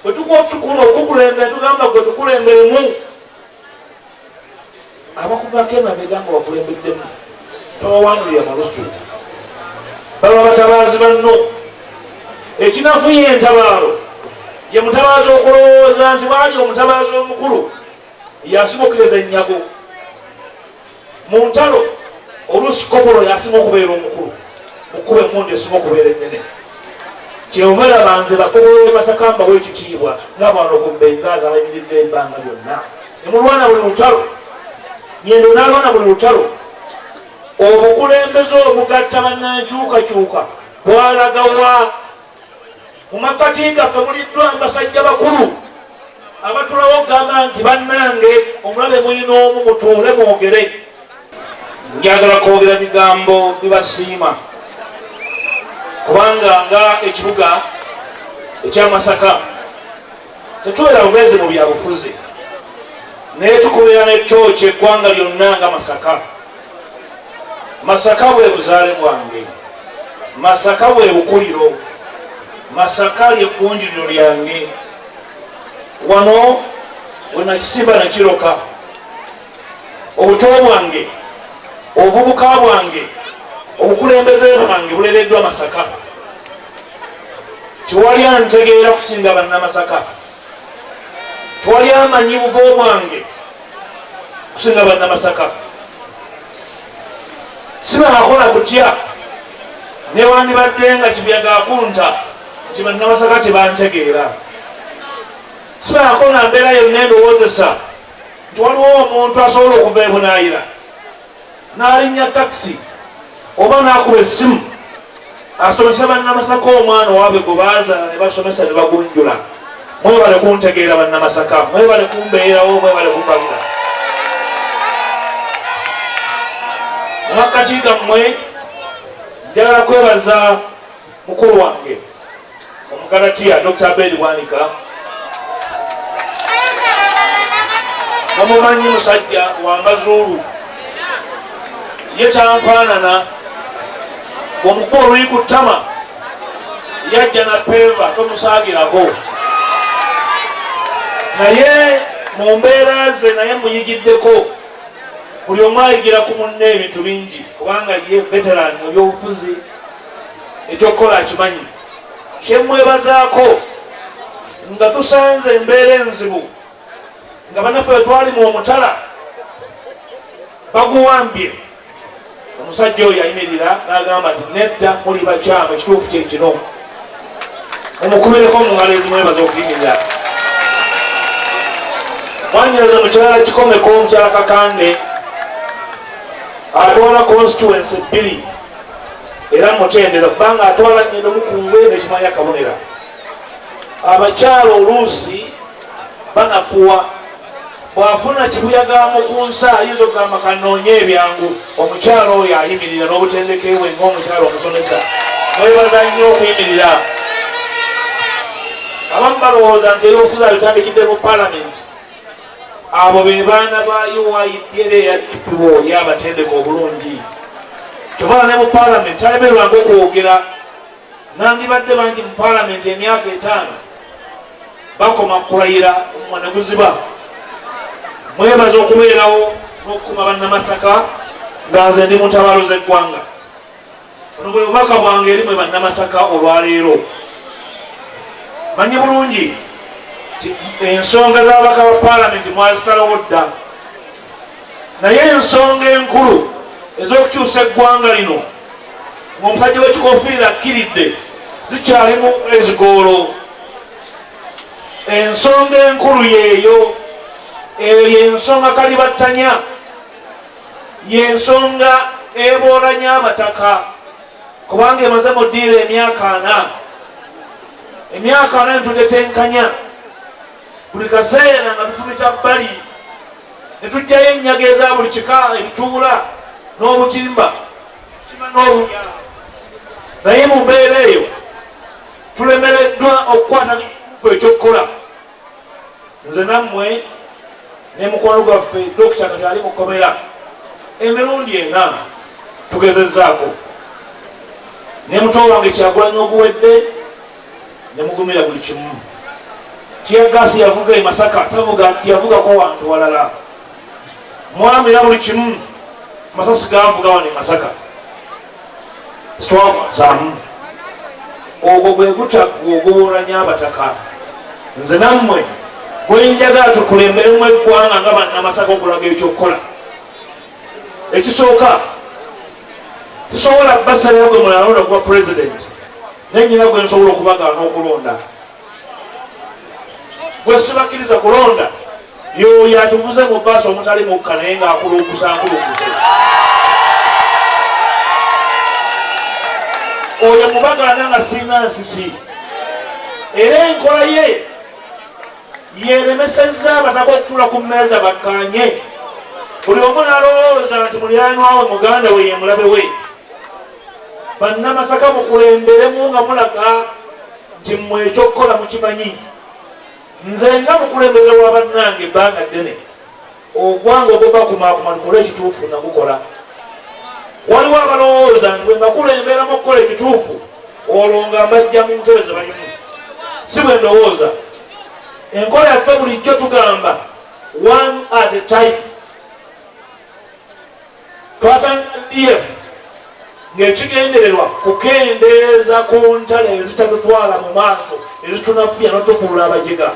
bwe tukuotukula okukulembere tugamba gwe tukulemberemu abakuvako emabega nga bakulembeddemu tobawandulira malusu baba batabaazi banno ekinafuye entabaalo ye mutabaazi okulowooza nti baali omutabaazi omukulu yasimukiriza ennyago Mu ntalo oluusi kopolo y'asinga okubeera omukulu mu kkuba emmundu esinga okubeera ennene. Kyova olaba nze bakopolo b'e Masaka mbawa ekitiibwa nga bwano ku Bengaazi abayimiridde ebbanga lyonna ne mulwana buli lutalo. Nyendo n'alwana buli lutalo. Obukulembeze obugatta bannankyukakyuka bwalaga wa? Mu makkati gaffe muliddwa basajja bakulu abatulawo okugamba nti bannange omulabe mulina omu mutuule mwogere. Njagala kwogera bigambo bibasiima kubanga nga ekibuga ekyamasaka tetubeera bubeezi mu byabufuzi naye tukubeera nekyo kyeggwanga lyonna nga masaka. Masaka bwe buzaale bwange, Masaka bwe bukuliro, Masaka lye kkunjuliro lyange. Wano we nakisimba ne kiroka. Obuto bwange, obuvubuka bwange, obukulembeze bwange bulereddwa Masaka. Tewali antegeera kusinga Bannamasaka. twali amanyi bugo bwange kusinga banna masaka sibanakola kutya newandibadde nga kibyagakunta nti banna masaka tebantegeera sibanakola mbeera yonna endowoozesa nti waliwo omuntu asobola okuva ebunayira n'alinnya takisi oba n'akuba essimu asomese bannamasaka omwana owaabwe gwe baazaala ne basomesa ne bagunjula mwebale kuntegeera bannamasaka mwebale kumbeerawo mwebale kumpabira mumakkati gammwe njagala kwebaza Mukulu wange Omugalatiya Dokita Abed Bwanika mumumanyi musajja wa mazuulu ye tanfaanana bwomukuba oluyi ku ttama yajja na peeva tomusaagirako naye mu mbeera ze naye muyigiddeko buli omu ayigira ku munne ebintu bingi kubanga ye veteran mu byobufuzi ekyokukola akimanyi kyemwebazaako nga tusanze embeera enzibu nga banaffe wetwali mu omutala baguwambye omusajja oyo ayimirira nagamba nti nedda muli bakyamu ekituufu kyekino omukubireko mungalo ezimwebaza okuyimirira mwanyereza mukyala kikomeko omukyala kakande atwala constituency bbiri era mutendeza kubanga atwala ngendo mukungwe nekimanya akabonera abakyala oluusi banakuwa bwafuna kibuyagamu ku nsi ayinza okugamba kanoonye ebyangu omukyala oyo ayimirira n'obutendeke bwe ngaomukyala omusomesa mwebaza nnyo okuyimirira abamu balowooza nti ebyobufuzi abitandikidde mu palamenti Abo be baana ba UYDA eyaddukiwo ye abatendeka obulungi. Kyobala ne mu palamenti talemerwanga okwogera. Nandibadde bangi mu palamenti emyaka etaano bakoma kulayira omumwa ne guziba. Mwebaza okubeerawo n'okukuuma Bannamasaka nga nze ndi mu ntabaalo z'eggwanga. Buno bwe bubaka bwange eri mwe Bannamasaka olwaleero. Manyi bulungi ensonga z'ababaka ba palamenti mwazisalawo dda, naye ensonga enkulu ez'okukyusa eggwanga lino ng'omusajja w'ekikofiira akkiridde zikyalimu ezigoolo. Ensonga enkulu yeeyo, eyo y'ensonga kalibattanya. y'ensonga eboolanya abataka kubanga emaze mu ddiiro emyaka ana emyaka ana netudetenkanya buli kaseera nga tufumita bbali netujjayo ennyaga eza buli kika ebituula n'obutimba tusima n'obunya naye mu mbeera eyo tulemereddwa okukwata ku ekyokukola nze nammwe ne mukwano gwaffe dokita kati ali mu kkomera emirundi ena tugezezzaako ne muto wange kyagulanya oguwedde ne mugumira buli kimu tiyagaasi yavuga e masaka tavuga nti yavugako wantu walala mwamira buli kimu masasi gavuga wano e masaka Twawazaamu ogwo gwe gutaggwa oguwoolanya Abataka. Nze nammwe gwe njagala tukulemberemu eggwanga nga Bannamasaka okulaga eky'okukola. Ekisooka sisobola basalira gwe munalonda okuba Pulezidenti naye nnyina gwe nsobola okubagaana okulonda. gwe sibakkiriza kulonda yoyo atuvuze mu baasi omutali mukka naye ng'akulungusa akulungusa oyo mubagana nga sirina nsisi era enkola ye yeremesezza abataka okutula ku mmeeza bakkanye buli omu nalowooza nti mulyanwawe muganda we yemulabe we Bannamasaka mukulemberemu nga mulaga nti mmwe eky'okukola mukimanyi. Nze nga mukulembeze wa bannange ebbanga ddene ogwange ogw'okubakumaakuma tukole ekituufu nagukola. Waliwo abalowooza nti bwe mbakulemberamu okukola ekituufu olwo nga mbajja mu ntebe ze balimu. Si bwe ndowooza. Enkola yaffe bulijjo tugamba one at a time. Twatandika DF ng'ekigendererwa kukendeeza ku ntalo ezitatutwala mu maaso ezitunafuya notufuula abajega.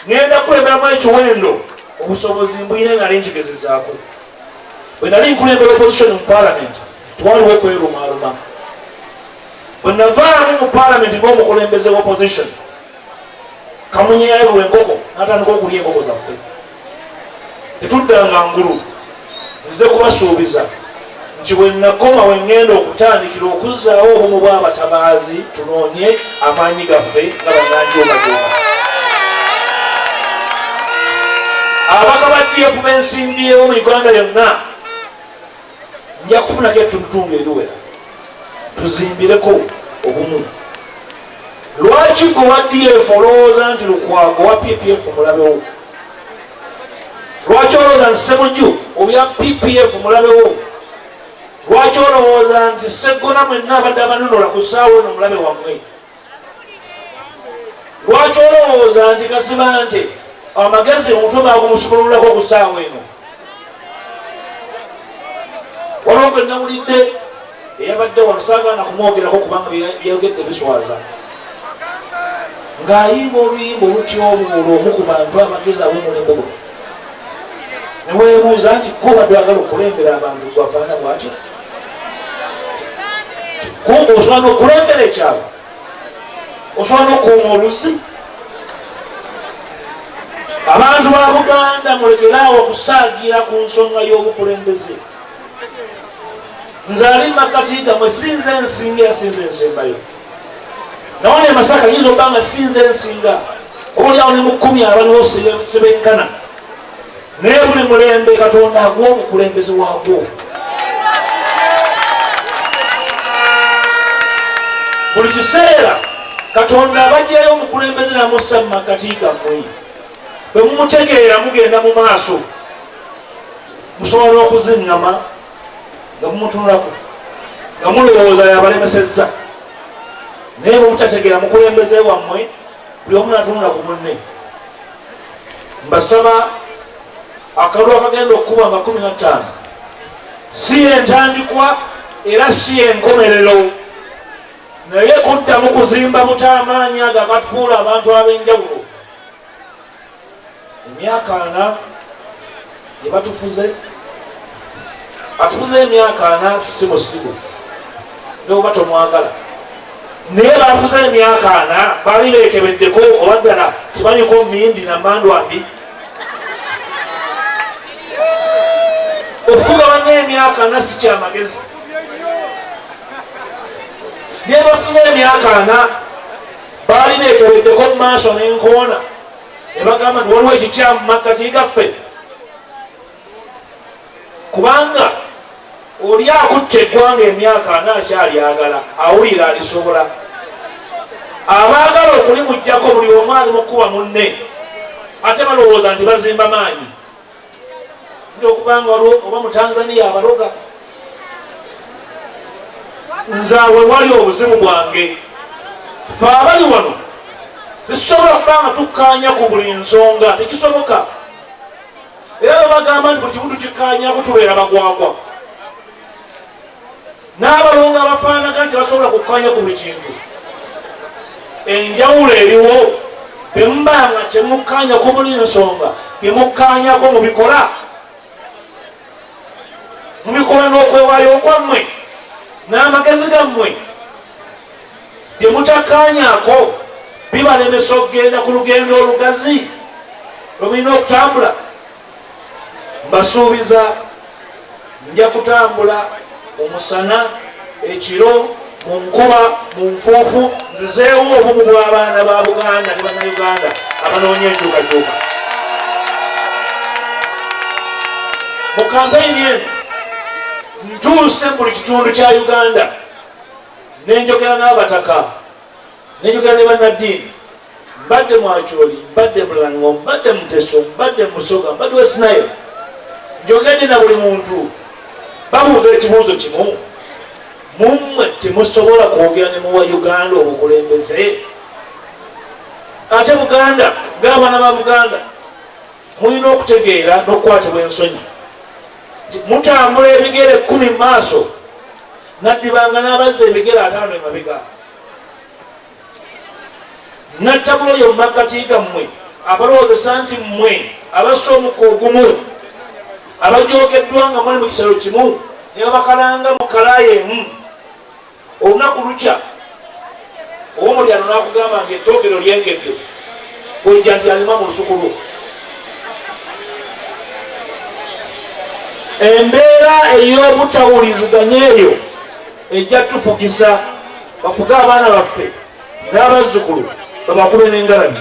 Ngenda kukulemberamu ekiwendo obusobozi mbuyina nali nkigezezaako. Bwe nali nkulembera opposition mu palamenti twaliwo okwerumaaluma. Bwe navaamu mu palamenti ng'omukulembeze wa opposition kamunye yayabulwa enkoko natandika okulya enkoko zaffe. Tetuddanga ngulu. Nzize kubasuubiza nti we nnakoma we ŋŋenda okutandikira okuzzaawo obumu bw'abatabaazi tunoonye amaanyi gaffe nga bannanjuumajuuma. Ababaka ba DF be nsimbiyeewo mu Uganda yonna. nja kufunako ettundutundu eriwera tuzimbireko obumu lwaki gwe wa df olowooza nti lukwago wa ppf mulabewo lwaki olowooza nti semuju obya ppf mulabewo lwaki olowooza nti seggona mwenna abadde abanunula ku ssaawa eno mulabe wammwe lwaki olowooza nti kasima nti amagezi omutwe bagumusukululako ku saawa eno waliwo gwe nawulidde eyabadde wano sagaana kumwogerako kubanga byeyogedde biswaza ng'ayimba oluyimba olutyobuula omu ku bantu amagezi awomulembe gwe neweebuuza nti kuba dwagala okukulembera abantu gwafaana bwatyo kumbe osobola nokulondera ekyalo osobola nokuuma oluzi abantu ba buganda mulekeraawo okusaagira ku nsonga y'obukulembeze nze ali makatiga mwe sinze ensinga yasinze ensembayo nawona emasaka yinza okuba nga sinze ensinga oba olyawo ne mukumi abaliwo sebenkana naye buli mulembe katonda aguwa omukulembeze wagwo buli kiseera katonda abajjayo omukulembeze namussa mu makati gammwe bwe mumutegeera mugenda mu maaso musobola okuziŋŋama nga mumutunulako nga mulowooza yabalemesezza naye bwemutategeera mukulembeze wammwe buli omu natunula ku munne mbasaba akalulu akagenda okukuba amakumi nattaano si yentandikwa era si yenkomerero naye kuddamu kuzimba buta amaanyi ago agatufuula abantu ab'enjawulo Emyaka ana gye batufuze, atufuze emyaka ana si musigu neoba tomwagala naye bafuze emyaka ana bali bekebeddeko oba ddala kibanyiko mindi namandwambi okufuga banna emyaka ana si kyamagezi naye bafuze emyaka ana baali bekebeddeko mu maaso nenkoona ne bagamba nti waliwo ekikyamu makkati gaffe kubanga oli akutte eggwanga emyaka ana akyalyagala awulira alisobola abaagala okulimugjako buli omu ali mukuba munne ate balowooza nti bazimba maanyi okubanga waliwo oba mutanzania abaloga nzawe wali obuzibu bwange fe abali wano tekisobola kuba nga tukkaanya ku buli nsonga tekisoboka era bebagamba nti buli kimu tukikkaanyako tubeera bagwagwa N'abalongo abafaanaga nti basobola kukkaanya ku buli kintu. Enjawulo eriwo bwe muba nga temukkaanya ku buli nsonga, bye mukkaanyako mubikola mubikola n'okwewaayo kwammwe n'amagezi gammwe. Bye mutakkaanyako bibalemesa okugenda ku lugendo olugazi lwe mulina okutambula. mbasuubiza nja kutambula omusana ekiro mu nkuba mu nfuufu nzizeewo obumu bw'abaana ba buganda ne bannayuganda abanoonya enkyukakyuka mu kampeyini eno ntuuse mu buli kitundu kya uganda nenjogera n'abataka Nenjogera ne bannaddiini, mbadde mu Acholi, mbadde mu Lango, mbadde mu Teso, mbadde mu Busoga, mbadde West Nile, njogedde na buli muntu. Babuuza ekibuuzo kimu, mu mmwe temusobola kwogera ne muwa Uganda obukulembeze? Ate Buganda, ng'abaana ba Buganda, mulina okutegeera n'okukwatibwa ensonyi nti mutambula ebigere kkumi mu maaso, naddibanga n'abazza ebigere ataano emabega. nattabulo yo makkati gammwe abalowoozesa nti mmwe abassa omukka ogumu abajoogeddwa nga muli mu kisero kimu ne babakalanga mu kalaayi emu olunaku lukya owomulyano nakugamba nti ettoogero lyengedde kojja nti alima mu lusuku lwo embeera ey'obutawuliziganya eyo ejja tufugisa bafuge abaana baffe n'abazzukulu babakube n'engalabi